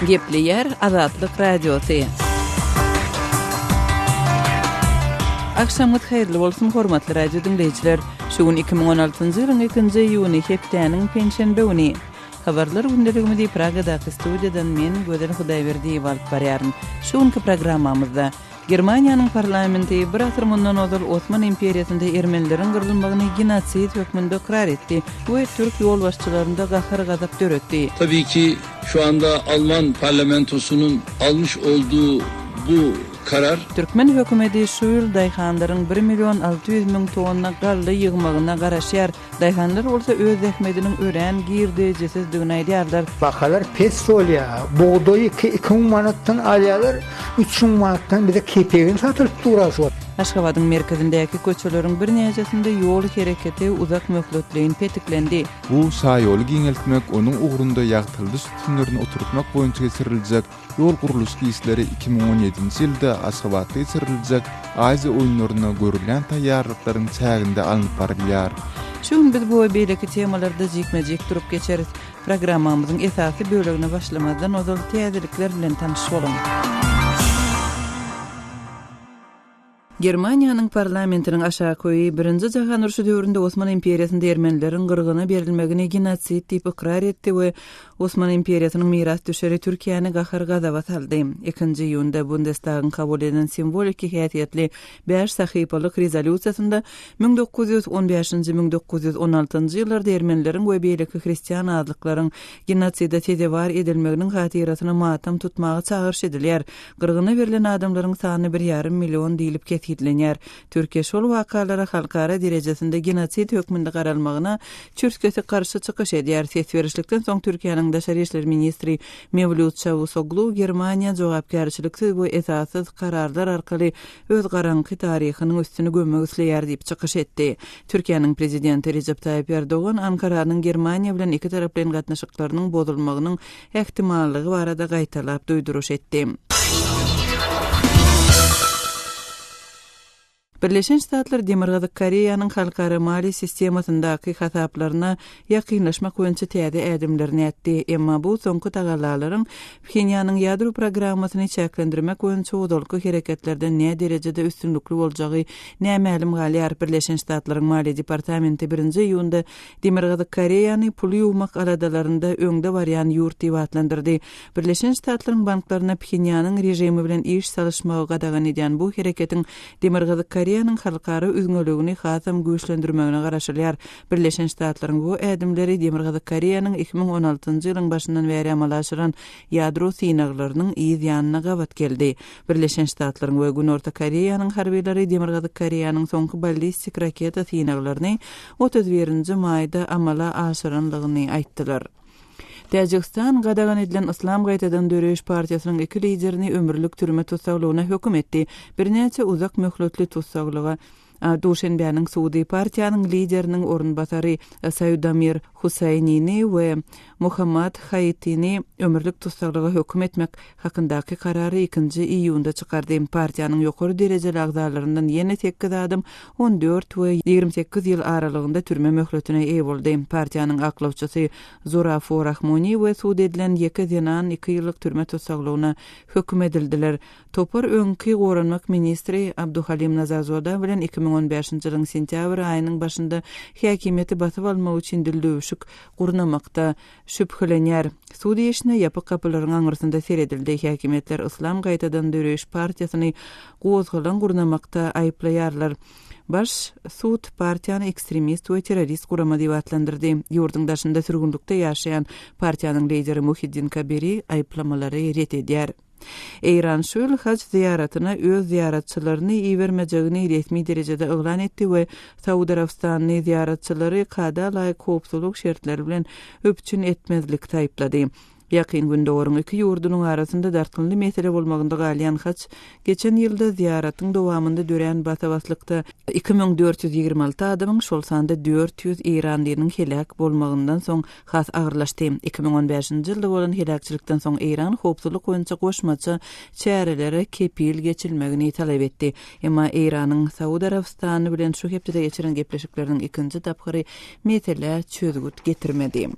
Gepleýär Azatlyk Radiosy. Agşamyňyz haýyrly bolsun hormatly radio diňleýjiler. Şu gün 2016-njy ýylyň 2-nji iýuny hepdäniň penşenbe güni. Habarlar gündeligimi diýip Pragadaky studiýadan men Gözel Hudaýberdiýewa alyp barýaryn. Şu günki programmamyzda Germaniýanyň parlamenti bir asyr mundan ozal Osman imperiýasynda ermenileriň gyrylmagyny genosid hökmünde ykrar etdi we türk ýolbaşçylarynda gahar-gazap döretdi. Tabii ki, şu anda Alman parlamentosunun almış olduğu bu karar. Türkmen hökümedi şu ýyl daýhanlaryň bir million alty ýüz müň tonna galla ýygmagyna garaşýar. Daýhanlar bolsa öz zähmediniň örän girdejisizdigini aýdýarlar. Bahalar pes bolýar. Bugdaýy iki, iki müň manatdan alýarlar, üç müň manatdan bize kepegini satylyp dur şu wagt. Aşgabadyň merkezindäki köçeleriň birnäçesinde ýol hereketi uzak möhletleýin petiklendi. Bu şaýoly giňeltmek onuň ugrunda ýagtyladyş sütünlerini oturtmak boýunça geçiriljek Ýol gurluşyk işleri iki müň on ýedinji ýylda Aşgabatda geçiriljek Aziýa oýunlaryna görülýän taýýarlyklaryň çäginde alnyp barylýar. Şu gün biz bu we beýleki temalarda jikme-jik durup geçeris. Programmamyzyň esasy bölegine başlamazdan ozal täzelikler bilen tanyş boluň. Germaniýanyň parlamentiniň aşak öýi Birinji jahan urşy döwründe Osman imperiýasynda ermenileriň gyrgyna berilmegini genosid diýip ykrar etdi we Osman imperiýasynyň mirasdüşeri Türkiýäni gahar-gazaba saldy. Ikinji iýunda Bundestagyň kabul eden simwoliki häsiýetli bäş sahypalyk rezolýusiýasynda müň dokuz ýüz on bäşinji-müň dokuz ýüz on altynjy ýyllarda ermenileriň we beýleki hristian azlyklaryň genoside sezewar edilmeginiň hatyrasyna matam tutmaga çagyryş edilýär. Gyrgyna berlen adamlaryň sany bir ýarym million diýlip kesgitlenýär. Türkiýe şol wakalara halkara derejesinde genosid hökmünde garalmagyna çürt-kesik garşy çykyş edýär. Ses berişlikden soň Türkiýäniň daşary işler ministri Mewlüt Çawusoglu Germaniýa jogapkärçiliksiz we esassyz kararlar arkaly öz garaňky taryhynyň üstüni gömmek isleýär diýip çykyş etdi. Türkiýäniň prezidenti Rejep Taýyp Erdogan Ankaranyň Germaniýa bilen ikitaraplaýyn gatnaşyklarynyň bozulmagynyň ähtimallygy barada gaýtalap duýduryş etdi. Birleşen Ştatlar Demirgazyk Koreýanyň halkara maliýe sistemasyndaky hasaplaryna ýakynlaşmak boýunça täze ädimlerini ätdi, emma bu soňky tagallalaryň Phenýanyň ýadro programmasyny çäklendirmek boýunça ozalky hereketlerden näderejede üstünlikli boljagy nämälim galýar, Birleşen Ştatlaryň Maliýe departamenti birinji iýunda Demirgazyk Koreýany pul ýuwmak aladalarynda öňde barýan ýurt diýip atlandyrdy. Birleşen Ştatlaryň banklaryna Phenýanyň režimi bilen iş salyşmagy gadagan edýän bu hereketiň Demirgazyk Koreýanyň halkara üzňeligini hasam güýçlendirmegine garaşylýar. Birleşen Ştatlaryň bu ädimleri Demirgazyk Koreýanyň iki müň on altynjy ýylyň başyndan bäri amala aşyran ýadro synaglarynyň yz ýanyna gabat geldi. Birleşen Ştatlaryň we Günorta Koreýanyň harbylary Demirgazyk Koreýanyň soňky ballistik raketa synaglaryny otuz birinji maýda amala aşyrandygyny aýtdylar. Täjigistan gadagan edilen Yslam gaýtadan döreýiş partiýasynyň iki liderini ömürlik türme tussaglygyna höküm etdi, birnäçe uzak möhletli tussaglyga A Duşenbäniň sudy partiýanyň lideriniň orunbasary Saýudamir Hussaýnini we Mohammad Haýytini ömürlik tussaglyga höküm etmek hakyndaky karary ikinji iýunda çykardy. Partiýanyň ýokary derejeli agzalaryndan ýene sekiz adam on dört we ýigrimi sekiz ýyl aralygynda türme möhletine eýe boldy. Partiýanyň aklawçysy Zurafu Rahmoni we sud edilen ýeke zenan iki ýyllyk türme tussaglygyna höküm edildiler. Topar öňki Goranmak ministri Abduhalim Nazarzoda bilen iki müň on bäşinji ýylyň sentýabr aýynyň başynda häkimiýeti basyp almak üçin dildöwüşik gurnamakda şübhelenýär. Sud işine ýapyk gapylaryň aňyrsynda seredildi. Häkimiýetler Yslam gaýtadan döreýiş partiýasyny gozgalaň gurnamakda aýyplaýarlar. Baş sud partiýany ekstremist we terrorist gurama diýip atlandyrdy. Ýurduň daşynda sürgünlikde ýaşaýan partiýanyň lideri Muhiddin Kabiri aýyplamalary ret edýär. Eýran şu ýyl haj zyýaratyna öz zyýaratçylaryny ibermejegini resmi derejede yglan etdi we Saud Arabystanly zyýaratçylary kada laýyk howpsuzlyk şertleri bilen üpjün etmezlikde aýyplady. Ýakyn Gündogaryň iki ýurdunyň arasynda dartgynly mesele bolmagynda galýan haj geçen ýylda zyýaratyň dowamynda dörän basa-baslykda iki müň dört ýüz ýigrimi alty adamyň, şol sanda dört ýüz eýranlynyň heläk bolmagyndan soň has agyrlaşdy. Iki müň on bäşinji ýylda bolan heläkçilikden soň Eýran howpsuzlyk boýunça goşmaça çärelere kepil geçilmegini talap etdi. Emma Eýranyň Saud Arabystany bilen şu hepdede geçiren gepleşikleriniň ikinji tapgyry meselä çözgüt getirmedi.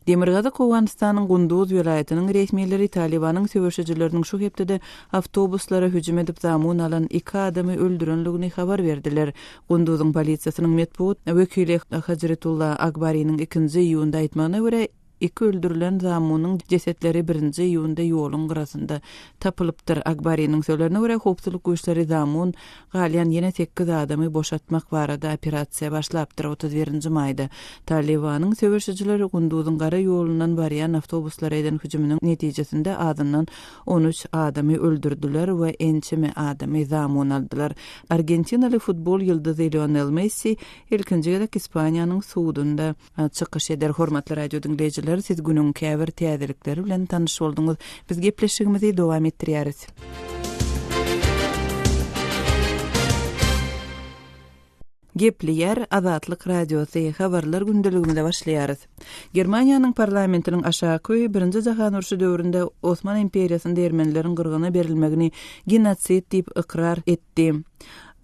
Demirgazyk Owganystanyň Gunduz welaýatynyň resmileri Talybanyň söweşijileriniň şu hepdede awtobuslara hüjüm edip zamun alan iki adamy öldürenligini habar berdiler. Gunduzyň polisiýasynyň metbugt wekili Hajretulla Akbariniň ikinji iýunda aýtmagyna görä, iki öldürilen zamunyň jesetleri birinji iýunda ýoluň gyrasynda tapylypdyr. Akbariniň sözlerine görä, howpsuzlyk güýçleri zamun Galýan ýene sekiz adamy boşatmak barada operasiýa başlapdyr, otuz birinji maýda Talybanyň söweşijileri Gunduzyň gara ýolundan barýan awtobuslara eden hüjüminiň netijesinde azyndan on üç adamy öldürdiler we ençeme adamy zamun aldylar. Argentinaly futbol ýyldyzy Lionel Messi ilkinji gezek Ispaniýanyň sudunda. Çykyş eder. Hormatly radiodiňleýjiler, siz günüň käbir täzelikleri bilen tanyş bolduňyz. Biz gepleşigimizi dowam etdirýäris. Gepleýär Azatlyk Radiosy. Habarlar gündeligimize başlaýarys. Germaniýanyň parlamentiniň aşaky öýi Birinji jahan urşy döwründe Osman imperiýasynda ermenileriň gyrgyna berilmegini genotsid diýip ykrar etdi. etdi.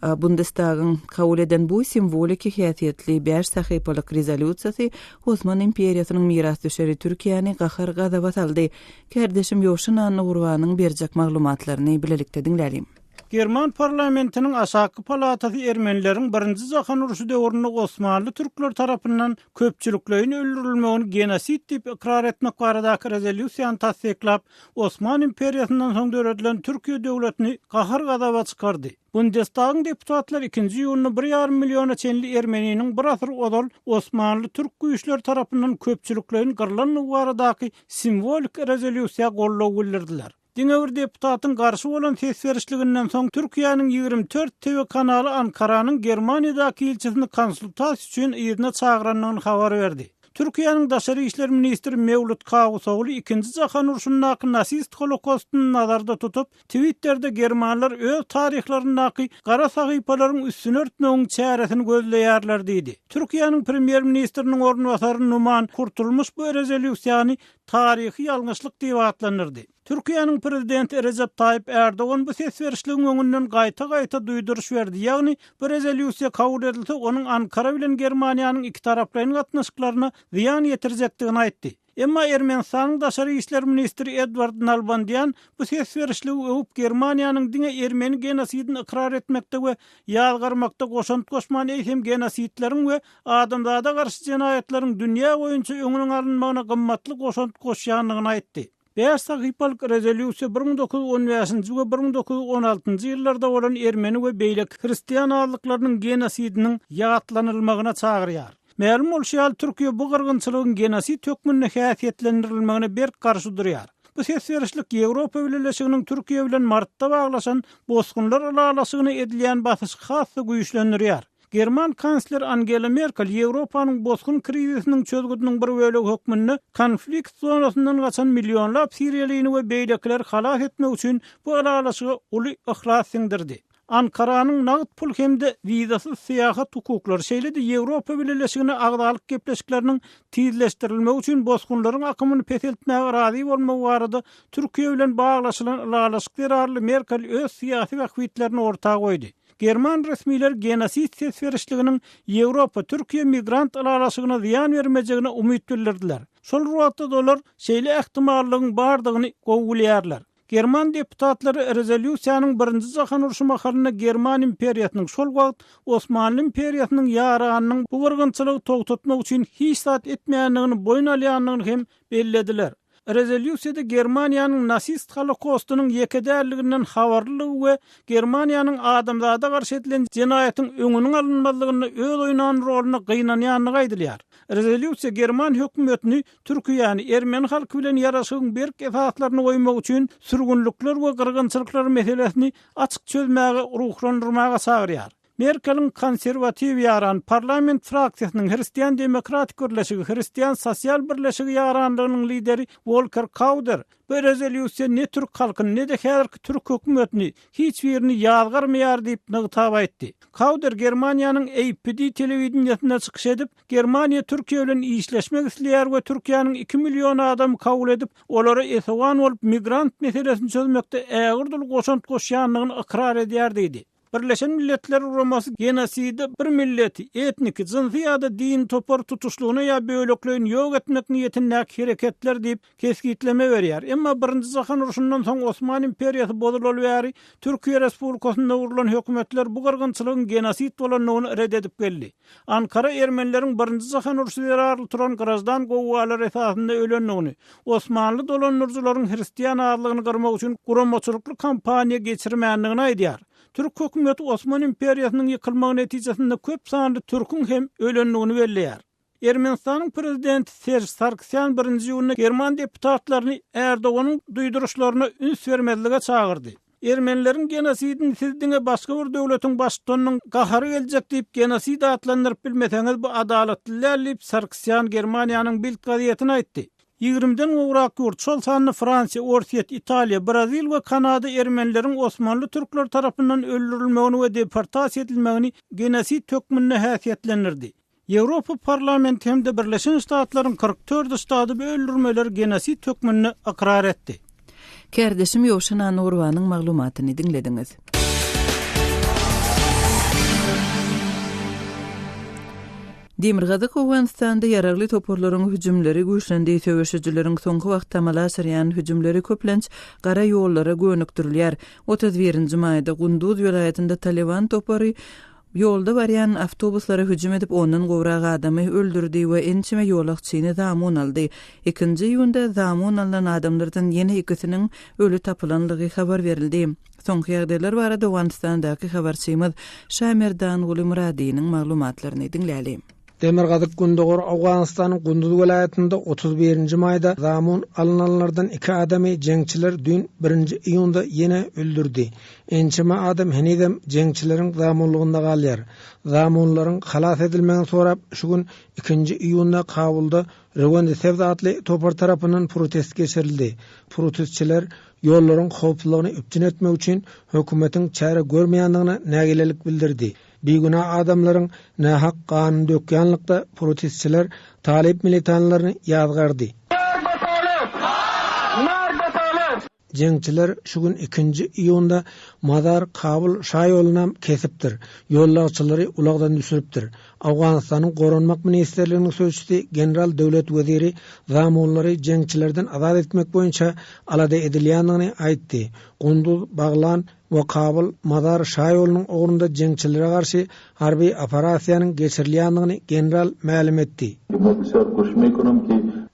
Bundestagyň kabul eden bu simwoliki häsiýetli bäş sahypalyk rezolýusiýasy Osman imperiýasynyň mirasdüşeri Türkiýäni gahar-gazaba saldy. Kärdeşim Ýowşin Annagurbanyň berjek maglumatlaryny bilelikde diňläliň. German parlamentiniň aşaky palatasy ermenileriň Birinji jahan urşy döwründe osmanly türkler tarapyndan köpçülikleýin öldürilmegini genosid diýip ykrar etmek baradaky rezolýusiýany tassyklap, Osman imperiýasyndan soň döredilen Türkiýe döwletini gahar-gazaba çykardy. Bundestagyň deputatlary ikinji iýunda bir ýarym milliona çenli ermeniniň bir asyr ozal Osmanly türk güýçleri tarapyndan köpçülikleýin gyrlandygy baradaky simwolik rezolýusiýa goldaw bildirdiler. Diňe bir deputatyň garşy bolan ses berişliginden soň Türkiýäniň ýigrimi dört TV kanaly Ankaranyň Germaniýadaky ilçisini konsultasiýa üçin yzyna çagyrandygyny habar berdi. Türkiýäniň daşary işler ministri Mewlut Kawusogly ikinji jahan urşundaky nasist holokostyny nazarda tutup, Twitterde germanlar öz taryhlaryndaky gara sahypalaryň üstüni örtmegiň çäresini gözleýärler diýdi. Türkiýäniň premýer ministriniň orunbasary Numan Kurtulmuş bu rezolýusiýany taryhy ýalňyşlyk diýip atlandyrdy. Türkiýäniň prezidenti Rejep Taýyp Ärdogan bu ses berişligiň öňünden gaýta-gaýta duýduryş berdi, ýagny bu rezolýusiýa kabul edilse, onuň Ankara bilen Germaniýanyň ikitaraplaýyn gatnaşyklaryna zyýan ýetirjekdigini aýtdy. Emma Ermenistanyň daşary işler ministri Edward Nalbandýan bu ses berişligi öwüp, Germaniýanyň diňe ermeni genosidini ykrar etmekde we ýazgarmakda goşant goşman, eýsem genosidleriň we adamzada garşy jenaýatlaryň dünýä boýunça öňüniň alynmagyna gymmatly goşant goşýandygyny aýtdy. Bäş sahypalyk rezolýusiýa bir müň dokuz ýüz on bäşinji we bir müň dokuz ýüz on altynjy ýyllarda bolan ermeni we beýleki hristian azlyklarynyň genosidiniň ýatlanylmagyna çagyrýar. Mälim bolşy ýaly, Türkiýe bu gyrgynçylygyň genosid hökmünde häsiýetlendirilmegine berk garşy durýar. Bu ses berişlik Ýewropa Bileleşiginiň Türkiýe bilen martda baglaşan bosgunlar ylalaşygyna edilýän basyşy has-da güýçlendirýär. German kansleri Angela Merkel Ýewropanyň bosgun krizisiniň çözgüdiniň bir bölegi hökmünde konflikt zonasyndan gaçan millionlap siriýalyny we beýlekileri halas etmek üçin bu ylalaşyga uly yhlas siňdirdi. Ankaranyň nagt pul hem-de wizasyz syýahat hukuklary, şeýle-de Ýewropa Bileleşigine agzalyk gepleşikleriniň tizleşdirilmegi üçin bosgunlaryň akymyny peseltmäge razy bolmagy barada Türkiýe bilen baglaşylan ylalaşyk zerarly Merkel öz syýasy bähbitlerini orta goýdy. German resmiler genosid ses berişliginiň Ýewropa, Türkiýe migrant ylalaşygyna zyýan bermejegine umyt bildirdiler. Şol wagtda-da olar şeýle ähtimallygyň bardygyny gowy bilýärler. German deputatlary rezolýusiýanyň Birinji jahan urşy mahalynda German imperiýasynyň, şol wagt Osmanly imperiýasynyň ýaranynyň bu gyrgynçylygy togtatmak üçin hiç zat etmeýändigini boýun alýandygyny hem bellediler. Rezolýusiýada Germaniýanyň nasist holokostynyň ýeke däldiginden habarlylygy we Germaniýanyň adamzada garşy edilen jenaýatyň öňüniň alynmazlygynda öz oýnan rolyna gynanýandygy aýdylýar. Rezolýusiýa german hökümetini Türkiýäni, ermeni halky bilen ýaraşygyň berk esaslaryny goýmak üçin sürgünlikler we gyrgynçylyklar meselesini açyk çözmäge ruhlandyrmaga çagyrýar. Merkeliň konserwatiw ýaran parlament fraksiýasynyň Hristian demokratik birleşigi, Hristian sosial birleşigi ýaranlygynyň lideri Wolker Kauder, Bu rezolýusiýa ne türk halkyny, ne-de häzirki türk hökümetini, hiç birini ýazgarmaýar diýip nygtap aýtdy. Kauder Germaniýanyň APD telewideniýesinde çykyş edip, Germaniýa Türkiýe bilen işleşmek isleýär we Türkiýäniň iki million adamy kabul edip, olara esewan bolup, migrant meselesini çözmekde ägirdül goşant goşýandygyny ykrar edýär diýdi. Birleşen Milletler Guramasy genoside bir milleti, etniki, jynsy ýa-da dini topary tutuşlygyna ýa bölekleýin ýok etmek niýetindäki hereketler diýip, kesgitleme berýär. Emma Birinji jahan urşundan soň Osman imperiýasy bozulaly bäri Türkiýe Respublikasynda gurlan hökümetler bu gyrgynçylygyň genosid bolandygyny ret edip geldi. Ankara ermenileriň Birinji jahan urşy zerarly turan grajdan gowgalary esasynda ölendigini, osmanly dolandyryjylaryň hristian azlygyny gyrmak üçin guramaçylykly kampaniýa geçirmändigini aýdýar. Türk hökümeti Osman imperiýasynyň ýykylmagy netijesinde köp sanly türküň hem ölendigini belleýär. Ermenistanyň prezidenti Serž Sargsýan birinji iýunda german deputatlaryny Erdoganyň duýduryşlaryna üns bermezlige çagyrdy. Ermenileriň genosidini siz diňe başga bir döwletiň baştutanynyň gahary geljek diýip genosid atlandyryp bilmeseňiz bu adalatly däl diýip Sarkisýan Germaniýanyň Bild gazetine aýtdy. Ýigrimiden gowrak ýurt, şol sanda Fransiýa, Orsýet, Italiýa, Brazil we Kanada ermenileriň osmanly türkleri tarapyndan öldürilmegini we deportasiýa edilmegini genosid hökmünde häsiýetlendirdi. Ýewropa Parlamenti hem-de Birleşen Ştatlaryň kyrk dört ştady bu öldürmeleri genosid hökmünde ykrar etdi. Kärdeşim Ýowşan Anurowanyň maglumatyny diňlediňiz. Demirgazyk Owganystanda ýaragly toparlaryň hüjümleri güýçlendi. Söweşijileriň soňky wagt amala aşyrýan hüjümleri köplenç gara ýollara gönükdirilýär. Otuz birinji maýda Gunduz welaýatynda Talyban topary Ýolda barýan awtobuslara hüjüm edip, ondan gowrak adamy öldürdi we ençeme ýolagçyny zamun aldy. Ikinji iýunda zamun alnan adamlardan ýene ikisiniň öli tapylanlygy habar berildi. Soňky ýagdaýlar barada Owganystandaky habarçymyz Şamerdanguly Myradynyň maglumatlaryny diňläli. Demirgazyk-Gündogar Owganystanyň Gunduz welaýatynda otuz birinji maýda zamun alynanlardan iki adamy jeňçiler düýn birinji iýunda ýene öldürdi. Ençeme adam henizem jeňçileriň zamunlygynda galýar. Zamunlaryň halas edilmegini sorap şu gün, ikinji iýunda Kabulda Rewendisebz atly topar tarapyndan protest geçirildi. Protestçiler ýollaryň howpsuzlygyny üpjün etmek üçin hökümetiň çäre görmeýändigine nägilelik bildirdi. Bigünä adamlaryň nähak ganyny dökýänlikde protestçiler talyp militanlaryny ýazgardy. Jeňçiler şu gün ikinji iýunda Mazar Kabul şaýolunam kesipdir, ýollagçylary ulagdan düşüripdir. Owganystanyň Goranmak ministrliginiň sözçüsi general döwlet weziri zamunlary jeňçilerden azat etmek boýunça alada edilýändigini aýtdy. Gunduz Baglan, we Kabyl, Mazar şaýolunyň ugrunda jeňçilere garşy harby operasiýanyň geçirilýändigini general mälim etdi.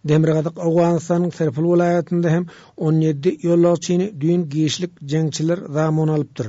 Demirgazyk Owganystanyň Serpul welaýatynda hem on ýedi ýolagçyny düýn giçlik jeňçiler zamun alypdyr.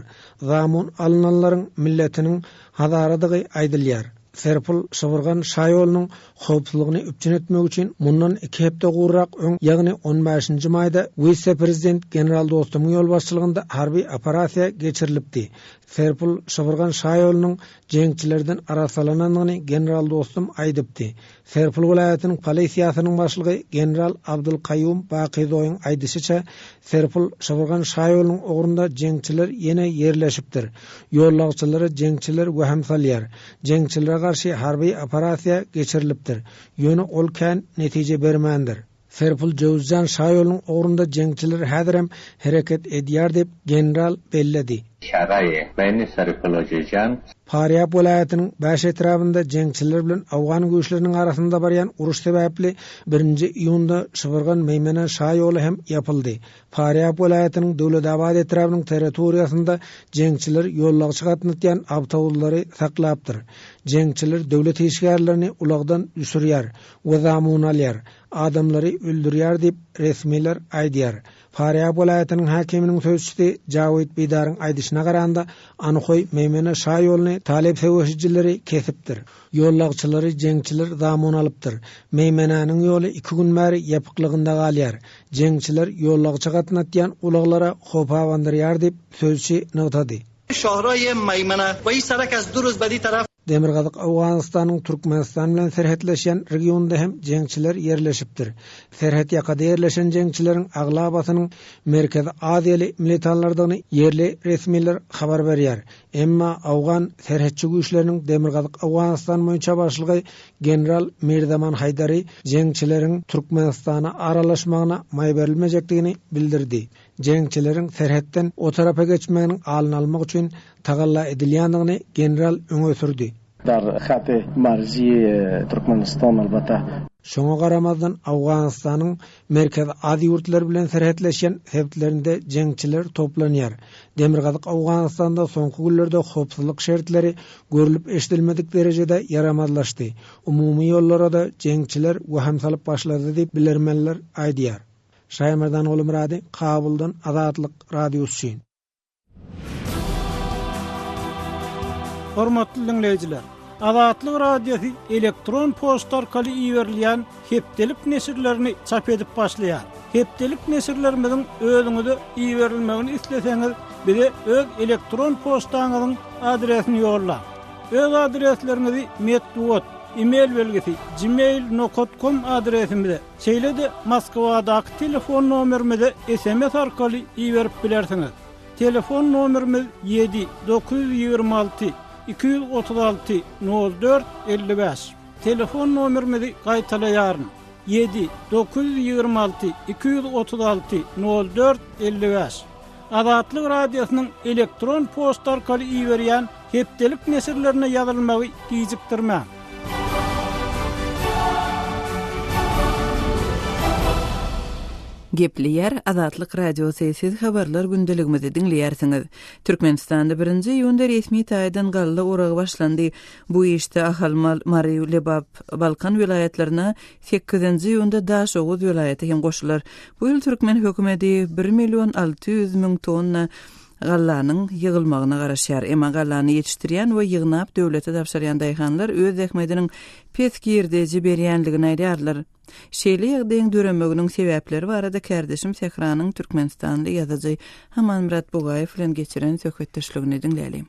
Zamun alynanlaryň milletiniň hazaradygy aýdylýar. Serpul, Şybrgan şaýolunyň howpsuzlygyny üpjün etmek üçin mundan iki hepde guryrak öň, ýagny on bäşinji maýda wise-prezident general Dostumyň ýolbaşçylygynda harby operasiýa geçirilipdi. Serpul Şybyrgan şaýolunyň jeňçilerden arassalananyny general Dostum aýdypdy. Serpul welaýatynyň polisiýasynyň başlygy general Abdylkaýýum Bakyzoýyň aýdyşyça, Serpul Şybyrgan şaýolunyň ugrunda jeňçiler ýene ýerleşipdir. Ýollagçylary jeňçiler wähim salýar. Jeňçilere garşy harby operasiýa geçirilipdir, ýöne ol kän netije bermändir. Serpil Jöwüzjan şaýolunyň ugrunda jeňçiler häzirem hereket edýär diýip, general belledi. Çäräýi, Beni Seripilojyjan. Parýap welaýatynyň bäş etrabynda jeňçiler bilen awgan güýçleriniň arasynda barýan uruş sebäpli birinji iýunda Şybyrgan-Meýmene şaýoly hem ýapyldy. Farýap welaýatynyň Döwletabat etrabynyň territoriýasynda jeňçiler ýolagçy gatnatýan awtobuslary saklapdyr. Jeňçiler döwlet işgärlerini ulagdan düşürýär we zamun alýar, adamlary öldürýär diýip, resmiler aýdýar. Farýap welaýatynyň häkiminiň sözçüsi Jawid Bidaryň aýdyşyna garanda, Anhoý, Meýmene şaýoluny talep söweşijileri kesipdir. Ýollagçylary jeňçiler zamun alypdyr. Meýmenäniň ýoly iki gün bäri ýapyklygynda galýar. Jeňçiler ýollagça gatnatýan ulaglara howp abandyrýar diýip, sözçi nygtady. Demirgazyk Owganystanyň Türkmenistan bilen serhetleşýän regionynda hem jeňçiler ýerleşipdir. Serhet ýakada ýerleşen jeňçileriň aglabasynyň Merkezi Aziýaly militanlardygyny ýerli resmiler habar berýär. Emma Owgan serhetçi güýçleriniň Demirgazyk Owganystan boýunça başlygy general Mirzaman Haýdary jeňçileriň Türkmenistana aralaşmagyna maý berilmejekdigini bildirdi. Jeňçileriň serhetden o tarapa geçmeginiň alnyny almak üçin tagalla edilýändigini general öňe sürdi. Dar Haty Marzi, Türkmenistan, albatta. Şoňa garamazdan, Owganystanyň Merkezi Aziýa ýurtlary bilen serhetleşýän sebitlerinde jeňçiler toplanýar. Demirgazyk Owganystanda soňky günlerde howpsuzlyk şertleri görlüp-eşidilmedik derejede ýaramazlaşdy, umumy ýollara-da jeňçiler wehim salyp başlady diýip, bilermenler aýdýar. Şaýmardan Gulumyrady, Kabuldan, Azatlyk Radiosy üçin. Hormatly diňleýjiler, Azatlyk Radiosy elektron poçta arkaly iberilýän hepdelik neşirlerini çap edip başlaýar. Hepdelik neşirlerimiziň özüňize iberilmegini isleseňiz, bize öz elektron poçtaňyzyň adresini ýollaň. Öz adresleriňizi metbugat, e-mail belgisi, gmail nokat kom adresimize Şeýle-de Moskwadaky telefon nomerimize sms arkaly iberip bilersiňiz. Telefon nomerimiz ýedi, dokuz ýüz ýigrimi alty, iki ýüz otuz alty, nol dört, elli bäş. Telefon nomerimizi gaýtalaýaryn, ýedi, dokuz ýüz ýigrimi alty, iki ýüz otuz alty, nol dört, elli bäş. Azatlyk Radiosynyň elektron poçta arkaly iberýän hepdelik neşirlerine ýazylmagy gijikdirmäň. Gepleýär Azatlyk Radiosy, Siz habarlar gündeligimizi diňleýärsiňiz. Türkmenistanda birinji iýunda resmi taýdan galla oragy başlandy. Bu işde Ahal, Mary, Lebap, Balkan welaýatlaryna Sekizinji iýunda Daşoguz welaýaty hem goşular. Bu ýyl türkmen hökümeti bir million alty ýüz müň tonna gallanyň ýygylmagyna garaşýar. Emma gallany ýetişdirýän we ýygnap döwlete tabşyrýan daýhanlar öz zähmediniň pes girdeji berýändigini aýdýarlar. Şeýle ýagdaýyň döremeginiň sebäpleri barada kärdeşim Sähranyň türkmenistanly ýazyjy Amanmyrat Bugaýew bilen geçiren söhbetdeşligini diňläliň.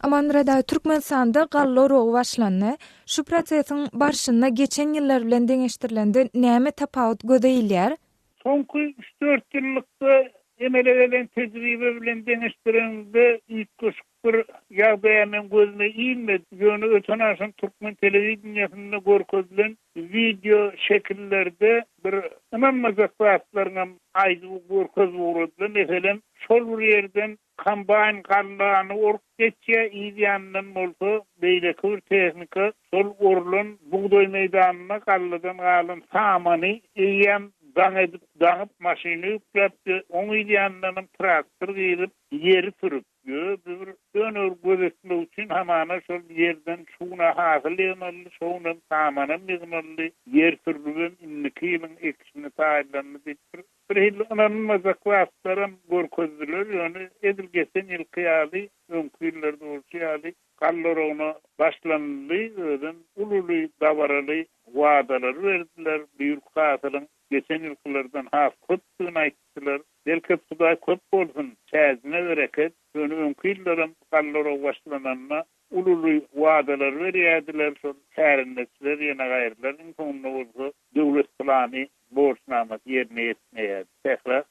Amanmyrat aga, Türkmenistanda galla orogy başlandy. Şu prosesiň barşynda geçen ýyllar bilen deňeşdirlende näme tapawut göze ilýär? Soňky üç-dört ýyllykda emele gelen tejribe bilen deňeşdireňde üýtgeşik bir ýagdaýa meň gözüme ilmedi. Ýöne öten-aşan türkmen telewideniýesinde görkezilen wideo şekillerde bir ynanmajak zatlaryňam aýdyp görkezip ugradylar. Meselem, şol bir ýerden Kombaýn gallany orup geçýär, yz ýanyndan bolsa beýleki bir tehnika şol orulan bugdaý meýdanyna galladan galan samany eýýäm daň edip, daňyp, maşyna ýükläpdir. Oň yz ýanyndanam traktor girip, ýeri sürüp. Öz bir önügini gözetmek üçin hamana şol ýerden şuguna hasyl ýygnaldy, şogunam samanam ýygnaldy. Ýer sürlübem indiki ýylyň ekişine taýynlandy diýip, bir Birhili ynanylmajak zatlaram görkezdiler, ýöne edil geçen ýylky ýaly, öňki ýyllarda bolşy ýaly galla oragyna başlanyldy, özem ululy dabaraly wadalary berdiler, bu ýylky hasylyň geçen ýylkylardan has köpdügini aýtdylar. Bereket Hudaý köp bolsun, çäjine bereket, ýöne öňki ýyllaram galla oragy başlananda Ululy wadalar berýärdiler, şol kärendeçiler ýene gaýrylar, iň soňunda bolsa döwlet plany, borçnamasy ýerine ýetmeýärdi. Sähra.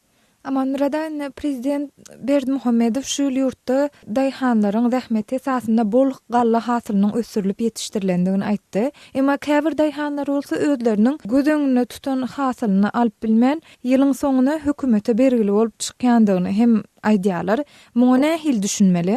Amanmyrada indi prezident Berdimuhamedow şu ýyl ýurtda daýhanlaryň zähmeti esasynda bol galla hasylynyň ösdürilip ýetişdirilendigini aýtdy. Emma käbir daýhanlar bolsa özleriniň göz öňünde tutan hasylyny alyp bilmän, ýylyň soňuna hökümete bergili bolup çykýandygyny hem aýdýarlar. Muňa nähili düşünmeli?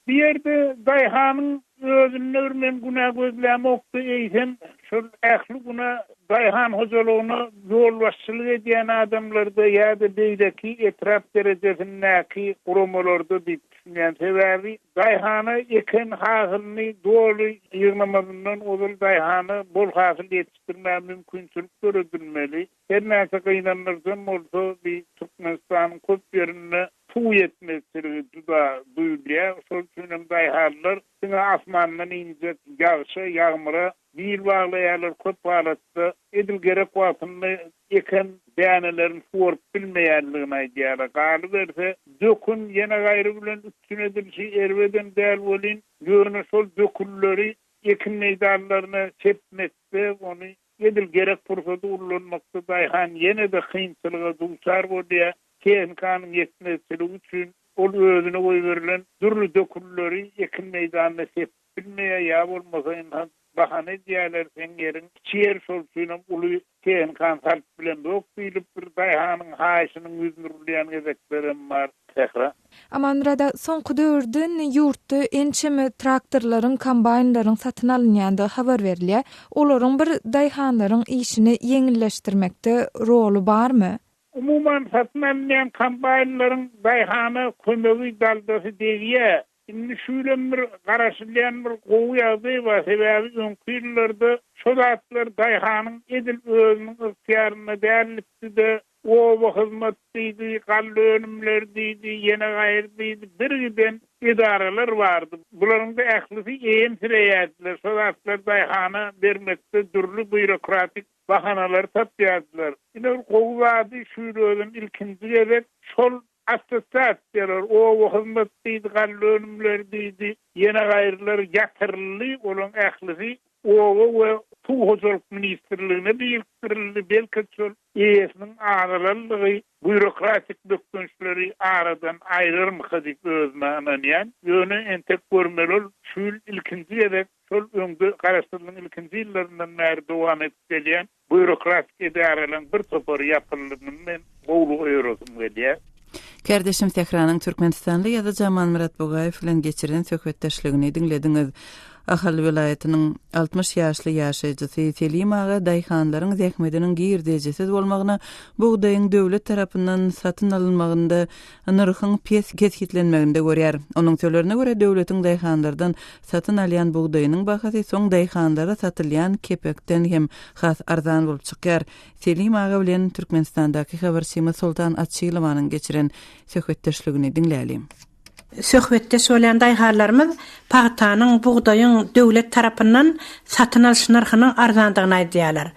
Bu ýerde daýhanyň özündedir, men günä gözlämok-da, eýsem, şol ähli günä daýhan hojalygyna ýolbaşçylyk edýän adamlarda ýa-da beýleki etrap derejesindäki guramalarda diýip düşünýän. Sebäbi daýhana eken hasylyny doly ýygnamazyndan ozal daýhana bol hasyl ýetişdirmäge mümkinçilik döredilmeli. Her näçe gynandyryjam bolsa, bi Türkmenistanyň köp ýerinde suw ýetmezçiligi juda duýulýar. Şol üçin hem daýhanlar diňe asmandan injek ýagşa, ýagmyra bil baglaýarlar. Köp halatda edil gerek wagtynda eken dänelerini suwaryp bilmeýändigini aýdýarlar. Galyberse, dökün ýene gaýry bilen üpjün edilişi erbedem däl welin, ýöne şol dökünleri ekin meýdanlaryna sepmekde, ony Edil gerek pursady ullanmakda daýhan ýene-de kynçylyga duçar bolýar. Tehnikanyň ýetmezçiligi üçin ol özüne goýberilen dürli dökünleri ekin meýdanyna sepip bilmeýär ýa bolmasa ynha bahana edýärler, seň ýeriň kiçi ýer, şol üçinem uly tehnikany salyp bilemzok diýlip bir daýhanyň haýyşynyň ýüzüni urulýan gezeklerem bar. Sähra. Amanmyrada soňky döwürde ýurtda ençeme traktorlaryň, kombaýnlaryň satyn alynýandygy habar berilýär. Olaryň bir daýhanlaryň işini ýeňilleşdirmekde roly barmy? Umuman, satyn alynýan kombaýnlaryň daýhana kömegi, daldasy degýär. Indi şu ýylam bir garaşylýan bir gowy ýagdaý bar. Sebäbi öňki ýyllarda şo zatlar daýhanyň edil özüniň ygtyýarynda dälipdi-de, Oba hyzmat diýdi, galla önümleri diýdi, ýene gaýry diýdi, birgiden edaralar bardy. Bularyň-da ählisi eýemsireýärdiler, şo zatlary daýhana bermekde dürli býurokratik bahanalary tapýardylar. Ine, gowy zady şu ýyl özem ilkinji gezek şol Assosiasiýalar, oba hyzmat diýdi, galla önümleri diýdi, ýene gaýrylary ýatyryldy, olaryň ählisi Oba we suw hojalyk ministrligine birikdirildi. Belki-de şol eýesiniň azalanlygy býurokratik bökdençleri aradan aýrarmyka diýip özüme ynanýan. Ýöne entek görmeli ol şu ýyl ilkinji gezek şol öňde garaşsyzlygyň ilkinji ýyllaryndan bäri dowam edip gelýän Býurokratik edaralaryň bir topary ýapyldy muny men gowulyga öýresim gelýär. Kärdeşim Sähranyň Türkmenistanly ýazyjy Amanmyrat Bugaýew bilen geçiren söhbetdeşligini diňlediňiz. Ahal welaýatynyň altmyş ýaşly ýaşaýjysy Selim aga daýhanlaryň zähmediniň girdejisiz bolmagyna bugdaýyň döwlet tarapyndan satyn alynmagynda nyrhyň pes kesgitlenmeginde görýär. Onuň sölerine görä, döwletiň daýhanlardan satyn alýan bugdaýynyň bahasy soň daýhanlara satylýan kepekden hem has arzan bolup çykýar. Selim aga bilen Türkmenistandaky habarçymyz Soltan Açylowanyň geçiren söhbetdeşligini diňläliň. Söhbetdeş bolýan daýhanlarymyz pagtanyň, bugdaýyň döwlet tarapyndan satyn alyş nyrhynyň arzandygyny aýdýarlar.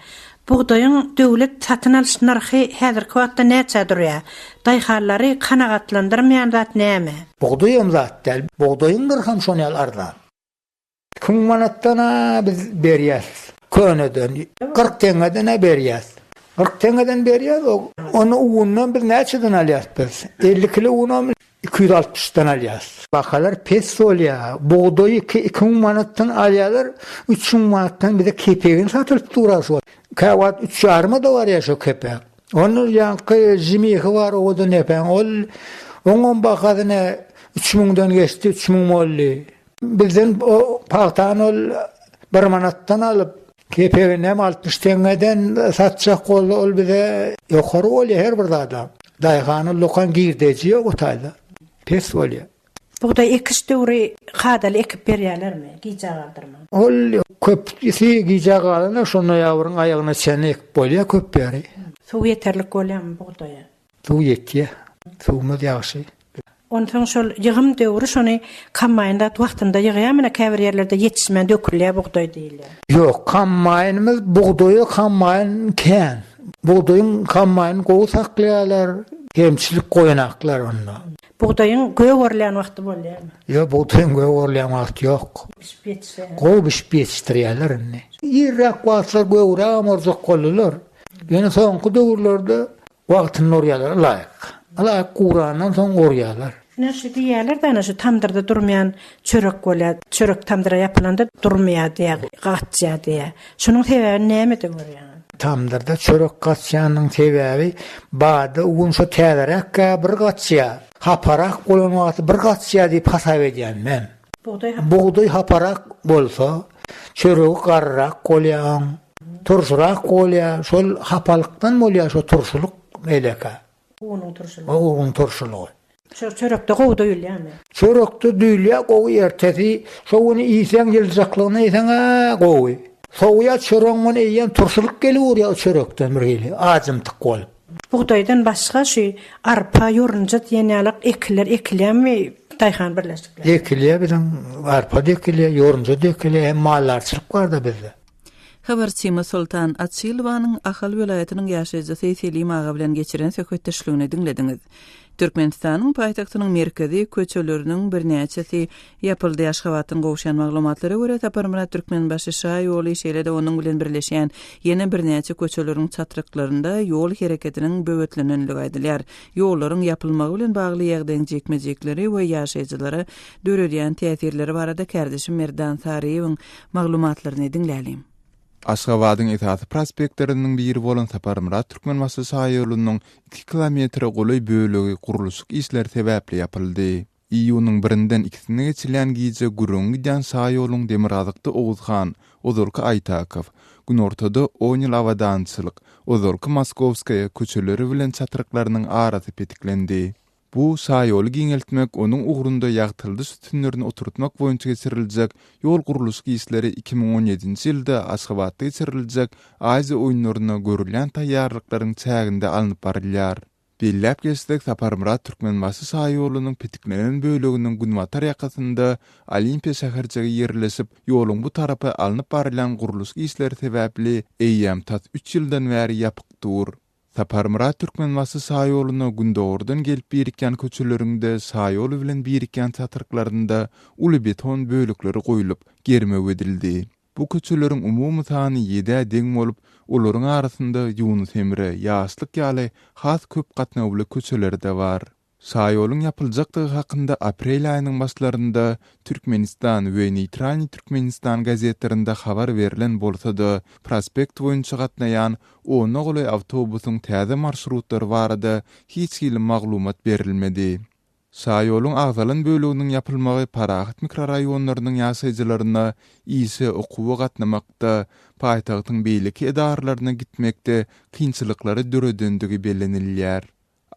Bugdaýyň döwlet satyn alyş nyrhy häzirki wagtda näçä durýar? Daýhanlary kanagatlandyrmaýan zat näme? Bugdaýam zat däl, bugdaýyň nyrham şon ýaly arzan. Iki müň manatdan-a biz berýäs köneden, kyrk teňňeden-ä berýäs. Kyrk teňňeden berýäs, ony ugundan biz näçeden alýas biz? Elli kilo unam Iki ýüz altmyş dan alýas. Bahalar pes bolýa. Bugdaý iki iki müň manatdan alýalar. Üç müň manatdan bize kepegini satylyp dura şu wagt. Käwagt üç ýarymada barýa şu kepek. Onda ýaňky žimihi bar owadan depäň. Ol oňam bahasyna üç müňden geçdi, üç müň boldy. Bizden o pagtany ol bir manatdan alyp. Kepegini hem altmyş teňňeden satjak boldy ol bize. Ýokary bolýa her bir zada. Daýhana lokan girdeji ýok o taýda. Pes bolýa. Bugdaý ekiş döwri kadaly ekip berýälermi, gijä galdyrman? Ol köpüsi gijä galanda şo noýabryň aýagyna çenli ekip bolýa köp ýeri. Suw ýeterlik bolýamy bugdaýa? Suw ýetýä. Suwumyz ýagşy. Onsoň şol ýygym döwri şony kombaýn zat wagtynda ýygýa menä käbir ýerlerde ýetişmän dökülýä bugdaý diýilýä. Ýok kombaýnymyz bugdaýa kombaýn kän. Bugdaýyň kombaýny gowy saklaýalar kemçilik goýanaklar onda. Bugdaýyň gök orulýan wagty bolýamy. Ýok bugdaýyň gök orulýan wagty ýok. Bişip ýetişýä. Gowy bişip ýetişdirýäler indi. Irräk wagtlar göwrägem orjak boldylar. Ýöne soňky döwürlerde wagtynda urýarlar, ylaýyk. Ylaýyk gurandan soň urýarlar. Ine şu diýýärler dana şu tamdyrda durmaýan çörek bolýar. Çörek tamdyra ýapylanda durmaýar diýýär, gaçýar diýýär. Şunuň sebäbini nämeden görýäňiz? Tamdyrda çörek gaçýanyň sebäbi bada un şo täzeräkkä bir gaçýar. Haparak bolan wagty bir gaçýar diýip hasap edýän men. Bugdaý haparak bolsa, çöregi garryrak bolýar oň. Turşyrak bolýar, şol hapalykdan bolýar şu turşulyk elekä. Unuň turşulygy. O unuň turşulygy. Şo çörekde gowy duýulýarmy? Çörekde duýulýar gowy ertesi şo güni iýseň ýyljyjaklygyna iýseň-ä gowy. Sowýa çöregiň güni iýen turşulyk gelip urýar o çörekden birhili ajymtyk bolup. Bugdaýdan başga şu arpa, ýorunja diýen ýalak ekinler ekilýärmi daýhan birleşiklerinde? Ekilýär biziň arpa-da ekilýär, ýorunja-da ekilýär hem maldarçylyk bar-da bizde. Habarçymyz Soltan Açylowanyň Ahal welaýatynyň ýaşaýjysy Selim aga bilen geçiren söhbetdeşligini diňlediňiz. Türkmenistanyň paýtagtynyň merkezi köçeleriniň birnäçesi Ýapyldy. Aşgabatdan gowşan maglumatlara görä, Saparmyrat Türkmenbaşy şa ýoly, şeýle-de onuň bilen birleşýän ýene birnäçe köçeleriň çatryklarynda ýol hereketiniň böwetlenendigi aýdylýar. Ýollaryň ýapylmagy bilen bagly ýagdaýyň jikme-jikleri we ýaşaýjylara döredýän täsirleri barada kärdeşim Merdan Saryýewiň maglumatlaryny diňläliň. Aşgabadyň esasy prospektleriniň biri bolan Saparmyrat Türkmenbaşy şaýolunyň iki kilometre golaý bölegi gurluşyk işleri sebäpli ýapyldy. Iýunyň birinden ikisine geçilýän gije gürrüňi gidýän şaýoluň Demirgazykda Oguzhan, ozalky Aýtakow, günortada On ýyl abadançylyk, ozalky Moskowskaýa, köçeleri bilen çatryklarynyň arasy petiklendi. Bu şaýoly giňeltmek, onuň ugrunda ýagtyladyş sütünlerini oturtmak boýunça geçiriljek ýol-gurluşyk işleri iki müň on ýedinji ýylda Aşgabatda geçiriljek Aziýa oýunlaryna görülýän taýýarlyklaryň çäginde alnyp barylýar. Belläp geçsek, Saparmyrat Türkmenbaşy şaýolunyň petiklenen böleginiň günbatar ýakasynda Olimpiýa şäherjigi ýerleşip, ýoluň bu tarapy alnyp barylýan gurluşyk işleri sebäpli eýýäm tas üç ýyldan bäri ýapyk dur. Saparmyrat Türkmenbaşy şaýoluna gündogardan gelip birikýän köçeleriňde şaýoly bilen birikýän çatryklarynda uly beton bölekleri goýlup, germew edildi. Bu köçeleriň umumy sany ýedä deň bolup, olaryň arasynda Ýunus Emre, Ýaşlyk ýaly has köp gatnawly köçeler-de bar. Şaýoluň ýapyljakdygy hakynda aprel aýynyň başlarynda Türkmenistan we Neýtralnyý Türkmenistan gazetlerinde habar berlen bolsa-da, prospekt boýunça gatnaýan ona golaý awtobusyň täze marşrutlary barada hiç hili maglumat berilmedi. Şaýoluň agzalan böleginiň ýapylmagy parahat mikroraýonlarynyň ýaşaýjylaryna işe, okuwa gatnamakda, paýtagtyň beýleki edaralaryna gitmekde kynçylyklary döredendigi bellenilýär.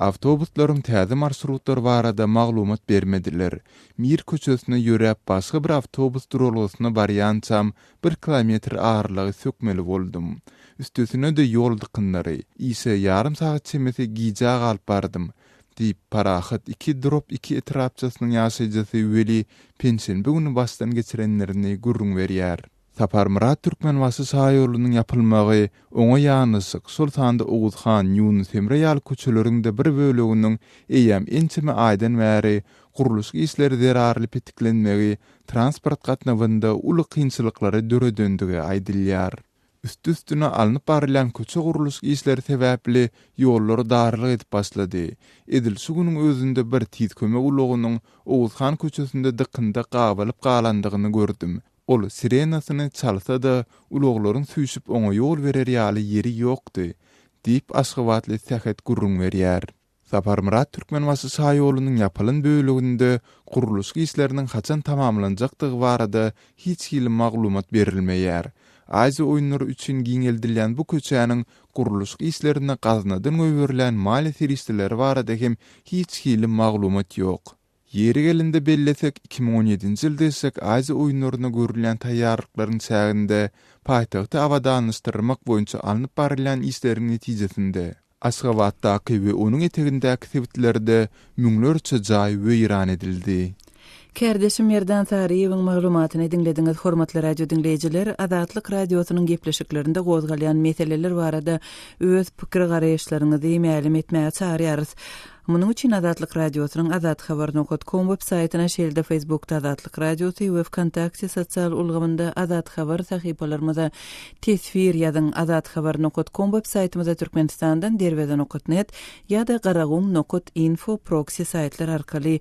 Awtobuslaryň täze marşrutlary barada maglumat bermediler. Mir köçesine ýöräp başga bir awtobus duralgasyna barýançam bir kilometr aralygy sökmeli boldum. Üstesine-de ýol dykynlary. Işe ýarym sagat çemesi gijä galyp bardym. Diýip, Parahat iki drop iki etrapçasynyň ýaşaýjysy Weli penşenbe güni başdan geçirenlerini gürrüň berýär. Saparmyrat Türkmenbaşy şaýolunyň ýapylmagy, oňa ýanaşyk, şol sanda Oguz han, Ýunus Emre ýaly köçeleriň-de bir böleginiň eýýäm ençeme aýdan bäri gurluşyk işleri zerarly petiklenmegi transport gatnawynda uly kynçylyklary döredendigi aýdylýar. Üsti-üstüne alnyp barylýan köçe gurluş işleri sebäpli ýollary darylyk edip başlady. Edil şu günüň özünde bir tiz kömek ulagynyň Oguzhan köçesinde dykynda gabalyp galandygyny gördüm. Ol sirenasyny çalsa-da, ulaglaryň süýşüp oňa ýol berer ýaly ýeri ýokdy, diýip, aşgabatly Sähet gürrüň berýär. Saparmyrat Türkmenbaşy şaýolunyň ýapylan böleginde gurluşyk işleriniň haçan tamamlanjakdygy barada hiç hili maglumat berilmeýär. Aziýa oýunlary üçin giňeldilýän bu köçäniň gurluşyk işlerine gaznadan goýberilýän maliýe serişdeleri barada hem hiç hili maglumat ýok. Ýeri gelende bellesek, iki müň on ýedinji ýylda geçjek Aziýa oýunlaryna görülýän taýýarlyklaryň çäginde paýtagty abadanlaşdyrmak boýunça alnyp barylýan işleriň netijesinde, Aşgabatdaky we onuň etegindäki sebitlerde müňlerçe jaý weýran edildi. Kärdeşim Merdan Saryýewiň maglumatyny diňlediňiz. Hormatly radiodiňleýjiler, Azatlyk Radiosynyň gepleşiklerinde gozgalýan meseleler barada öz pikir-garaýyşlaryňyzy mälim etmäge çagyrýarys. Munuň üçin Azatlyk Radiosynyň Azat Haber nokat kom web saýtyna şeýle-de Facebookda Azatlyk Radiosy we Wkontakte sosial ulgamynda Azat Haber sahypalarymyza teswir ýazyň, Azat Haber nokat kom web saýtymyza Türkmenistandan Derweze nokat net ýa-da Garagum nokat info proksi saýtlar arkaly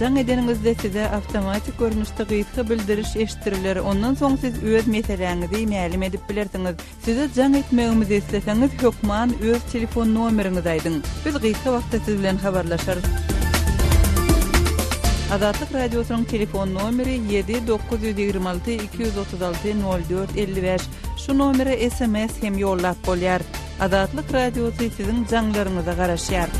Jaň edeniňizde size awtomatik görnüşde gysga bildiriş eşitdiriler, ondan soň siz öz meseläňizi mälim edip bilersiňiz. Size jaň etmegimizi isleseňiz, hökman öz telefon nomeriňizi aýdyň. Biz gysga wagtda siz bilen habarlaşarys. Azatlyk Radiosynyň telefon nomeri ýedi dokuz ýüz ýigrimi alty iki ýüz otuz alty nol dört elli bäş. Şu nomere sms hem ýollap bolýar. Azatlyk Radiosy siziň jaňlaryňyza garaşýar.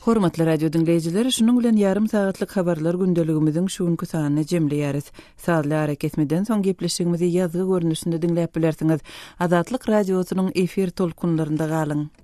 Hormatly radio diňleýjiler, şunuň bilen ýarym sagatlyk habarlar gündeligimiziň şu günki sanyny jemleýäris. Sazly arakesmeden soň gepleşigimizi ýazgy görnüşinde diňläp bilersiňiz. Azatlyk radiosynyň efir tolkunlarynda galyň.